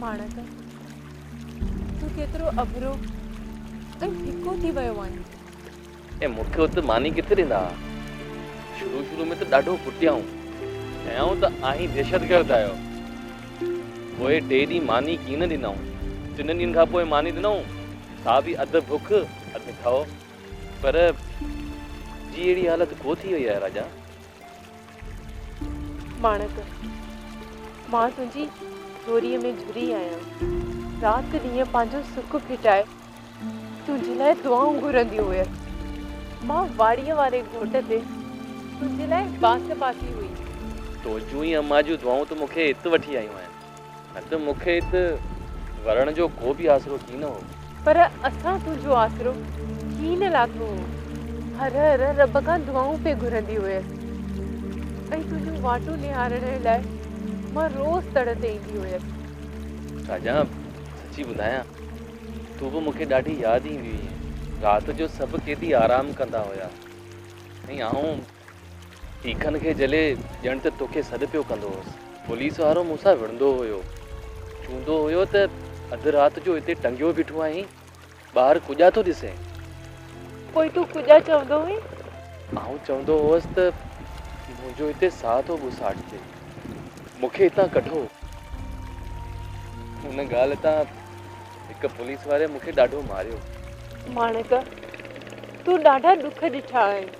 ماڻڪ! تون ڪيترو اڀرو ۽ ڦڪو ٿي ويو آهين. ۽ مون کي ات ماني ڪٿي ڏيندا ها. شروع شروع ۾ ته ڏاڍو ڪٽيائون. چيائون ته آهين دهشتگرد آهيو. پوء ٽي ڏينهن ماني ڪين ڏنائون. ٽنن ڏينهن کان پوء ماني ڏنائون، سا به اڌ بک اڌ ٺهه. پر جي اهڙي حالت ڪو ٿي وئي آهي راجا. ماڻڪ! مان تنهنجي ڏوريء ۾ جھري آهيان. رات ڏينهن پنهنجو سڪ ڦٽائي تنهنجي لاء دعائون گھرندي هئس. مان واڙيء واري گھوٽ تي تنهنجي لاء بانس باسي هئي. تون جون ئي امان جون دعائون تون مون کي هت وٺي آيون آهن. نه ته مون کي ات ورڻ جو ڪو به آسرو ڪين هو. پر اسان تنهنجو آسرو ڪين لاٿو هو. هر هر رب کان دعائون پئي گهرندي هئس ۽ تنهنجون واٽون نهارڻ لاء مان روز تڙ تي ايندي هئس. شاهجهان، سچي ٻڌايان تون به مون کي ڏاڍي ياد ايندي هئين. رات جو سڀ قيدي آرام ڪندا هيا ۽ آئون. تيکن کي جهلي ڄڻ ته توکي سڏ پيو ڪندو هوس. پوليس وارو مون سان وڙهندو هيو. چوندو هيو ته اڌ رات جو هتي ٽنگيو بيٺو آهين، ٻاهر ڪوڄا ٿو ڏسين. پوء تون ڪوڄا چوندو هئين؟ آئون چوندو هوس ته منهنجو هتي ساهه ٿو ٻوساٽجي. مون کي هتان ڪڍو. ان ڳالهه تان هڪ پوليس واري مون کي ڏاڍو ماريو. ماڻڪ، تون ڏاڍا ڏک ڏٺا آهن.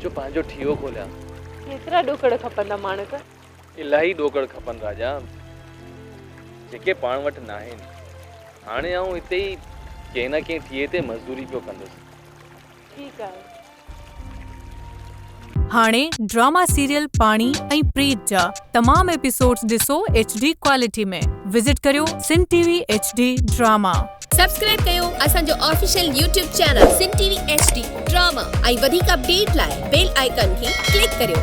جو پنهنجو ٺيو کوليان. ڪيترا ڏوڪڙ کپندا ماڻڪ. الاهي ڏوڪڙ کپن راجا. جيڪي پاڻ وٽ ناهن. هاڻي آئون هتي ئي ڪنهن نه ڪنهن ٺيهي تي مزدوري پيو ڪندس. ٺيڪ آهي. هاڻي ڊراما سيريل پاڻي ۽ پريت جا تمام ايپيسوڊز ڏسو ايڇ ڊي ڪوالٽي ۾ وزٽ ڪريو Sindh T V H D drama. Subscribe ڪيو اسان جو official YouTube channel Sindh T V H D drama ۽ وڌيڪ اپڊيٽ لاء بيل آئيڪان کي ڪلڪ ڪريو.